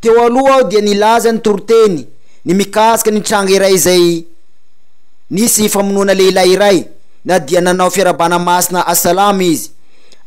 Teo aloha aho dia nilaza ny toriteny ny mikasika ny tranga iray izay nisy famonoana lehilahy iray na dia nanao fiarahabana masina Assalam izy,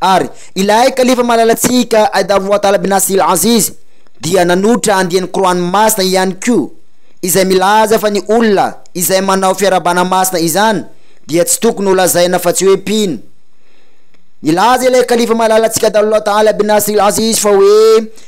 ary ilay Kalifa malalantsika Aidabouatala bin Asil Aziz dia nanotra andiany Qur'an masina ihany koa izay milaza fa ny olona izay manao fiarahabana masina izany dia tsy tokony ho lazaina fa tsy hoe mpino. Nilaza ilay Kalifa malalantsika Aidallah Taala bin Asil Aziz fa hoe,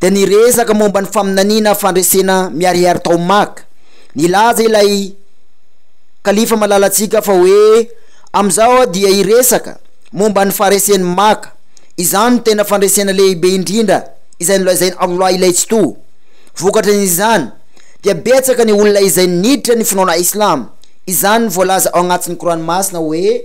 dia niresaka momba ny faminaniana fandresena miharihary tao Maka. Nilaza ilay Kalifa malalantsika fa hoe, Amin'izao aho dia hiresaka momba ny faharesen'i Maka. Izany no tena fandresena lehibe indrindra izay nolazain'i Allah Ilay Tsitoha. Vokatran'izany, dia betsaka ny olona izay niditra ny finoana Islama. Izany no voalaza ao anatin'ny Kor'any Masina hoe.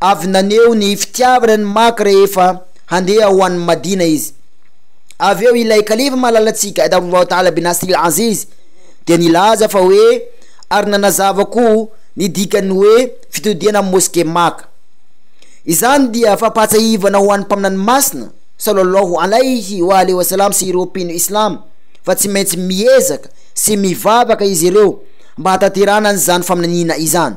avy naneho ny fitiavana ny maka rehefa handeha ho any Madina izy. Avy eo ilay kalifa malalatsika Adam Allahu Ta'ala bin Nasir al-Aziz dia nilaza fa hoe ary nanazava koa ny dikan'ny hoe fitodihana amin'ny Moske Maka. Izany dia fampahatsiahivana ho an'ny Mpaminany Masina Sallallahu Alaihi wa alihi wa sallam sy ireo mpino Islam fa tsy maintsy miezaka sy mivavaka izy ireo mba hataterana an'izany faminaniana izany.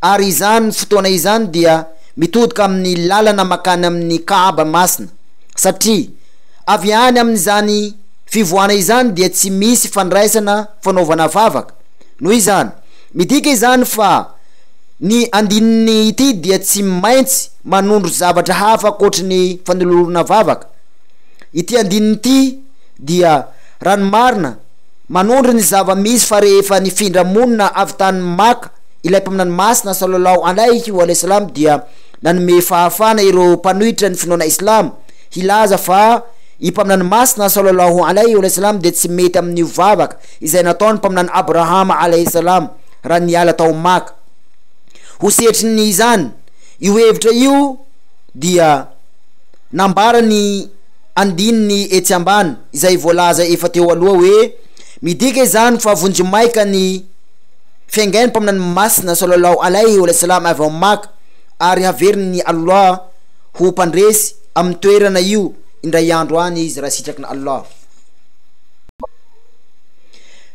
Ary izany fotoana izany dia mitodika amin'ny lalana makany amin'ny Kaaba masina, satria avy any amin'izany fivoahana izany dia tsy misy fandraisana fanaovana vavaka. Noho izany, midika izany fa ny andininy ity dia tsy maintsy manondro zavatra hafa ankoatry ny fanolorana vavaka. Ity andininy ity dia, raha ny marina, manondro ny zava-misy fa rehefa nifindra monina avy tany Maka Ilay Mpaminany Masina, Sallallahu Alayhi wa Sallam, dia nanome fahafahana ireo mpanohitra ny finoana Islama, hilaza fa i Mpaminany Masina, Sallallahu Alayhi wa Sallam, dia tsy mety amin'io vavaka izay nataon'ny Mpaminany Abrahama, Alayhi Salam, raha niala tao Maka. Ho sehatrin'ny izany, io hevitra io dia nambaran'ny andininy etsy ambany, izay voalaza efa teo aloha hoe, Midika izany fa vonjimaika ny. Fiaingain'ny Mpaminany Masina Sallallahu Alaihi Walasallam avy ao Maka ary haverin'i Allah ho mpandresy amin'ny toerana io indray andro any izy raha sitraky Allah.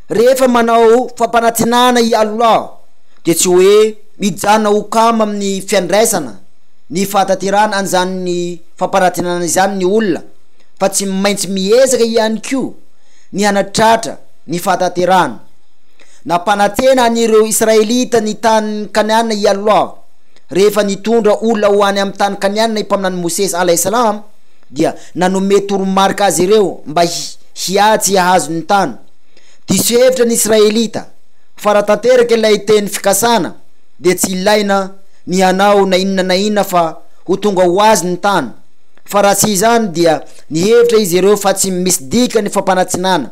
Rehefa manao fampanantenana i Allah dia tsy hoe mijanona ho kamo amin'ny fiandraisana ny fahatanterahana an'izany fampanantenana izany ny olona fa tsy maintsy miezaka ihany koa ny hanatratra ny fahatanterahana. Nampanantena an'ireo Israelita ny tany Kanana i Allâh. Rehefa nitondra olona ho any amin'ny tany Kanana i Mpaminany Mosesy, alaih salam, dia nanome toromarika azy ireo mba hiady sy hahazo ny tany. Diso hevitra ny Israelita fa raha tanteraka ilay teny fikasana dia tsy ilaina ny hanao na inona na inona fa ho tonga ho azy ny tany. Fa raha tsy izany dia nihevitra izy ireo fa tsy misy dikany ny fampanantsinana.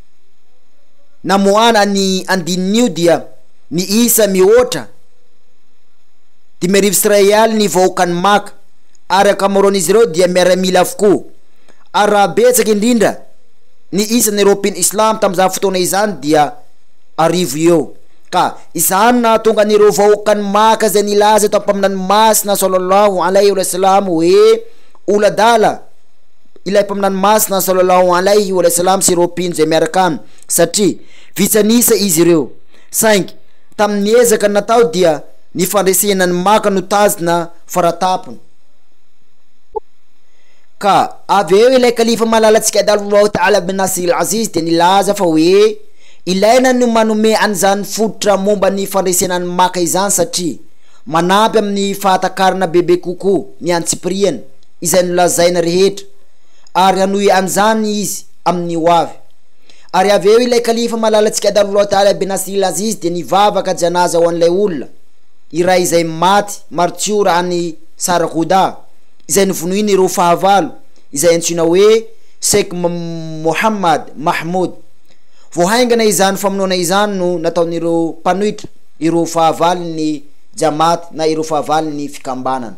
namoahana ny andininy dia niisa mihoatra dimy arivo sy iray alina ny vahoakan'i Maka, ary ankamaroan'izy ireo dia miaramila avokoa, ary raha betsaka indrindra ny isan'ireo mpino islamo tamin'izany fotoana izany dia arivo eo, ka izany no nahatonga an'ireo vahoakan'i Maka izay nilaza tao amin'ny Mpaminany Masina, sallallahu alaihi wa sallam, hoe ol'adala. Ilay Mpaminany Masina, Sallallahu alaihi wa sallam, sy ireo mpino izay miaraka aminy, satria vitsy an'isa izy ireo. Saingy, tamin'ny ezaka natao dia ny fandresena ny Maka no tazona faratampony. Ka avy eo ilay Kalifa malalantsika Adalullahu ta'ala bin Nasir al-Aziz dia nilaza fa hoe, Ilaina ny manome an'izany fototra momba ny fandresena ny Maka izany satria manampy amin'ny fahatakarana bebe kokoa ny antsipiriany. izay nolazaina rehetra, ary hanohy an'izany izy amin'ny hoavy. Ary avy eo ilay kalifa malalantsika taloha tany Abenasril Aziz dia nivavaka janaza ho an'ilay olona iray izay maty martiora any Sargodha izay novonoin'ireo fahavalo izay antsoina hoe Sheikh Mohammad Mahmood. Vao haingana izany famonoana izany no nataon'ireo mpanohitra ireo fahavalon'ny Jamaat na ireo fahavalon'ny fikambanana.